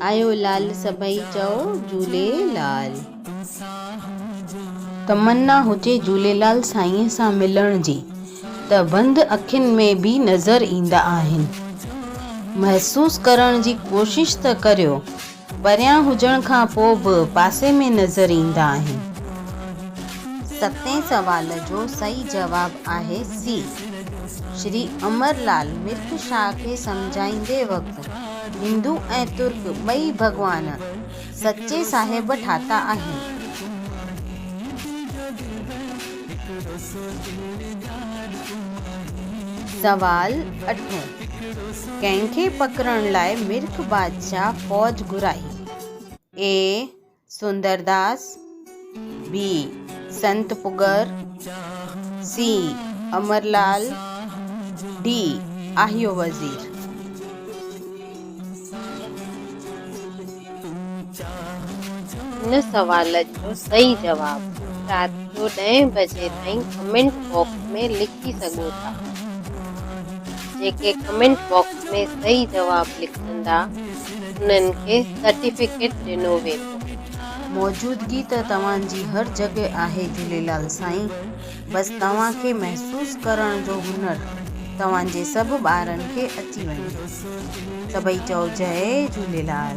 آيو لعل سڀئي چئو جهولي لعل. تمنا هجي جهوليلال سائينء سان ملڻ جي ته بند اکين ۾ به نظر ايندا آهن. محسوس ڪرڻ جي ڪوشش ته ڪريو. پريان هجڻ کان پوء به پاسي ۾ نظر ايندا آهن. ستين سوال جو صحيح جواب آهي سي. شري امر لال مرڪ شاهه کي سمجهائيندي وقت هندو ۽ ترڪ ٻئي ڀڳوان سچي صاحب ٺاتا آهن. سوال اٺون، ڪنهن کي پڪڙڻ لاء مرڪ بادشاهه فوج گهرائي؟ اي سوندرداس، بي سنت پڳر، سي امرلال، ڊي آهيو وزير. هن سوال جو صحيح جواب رات جو ڏهين بجي تائين ڪمينٽ باڪس ۾ لکي سگهو ٿا. جيڪي ڪمينٽ باڪس ۾ صحيح جواب لکندا انهن کي سرٽيفڪيٽ ڏنو ويندو. موجودگي ته توهان جي هر جڳهه آهي جهوليلال سائين. بس توهان کي محسوس ڪرڻ جو هنر توهان جي سڀ ٻارن کي اچي وڃي سڀئي چئو جئي جهوليلال.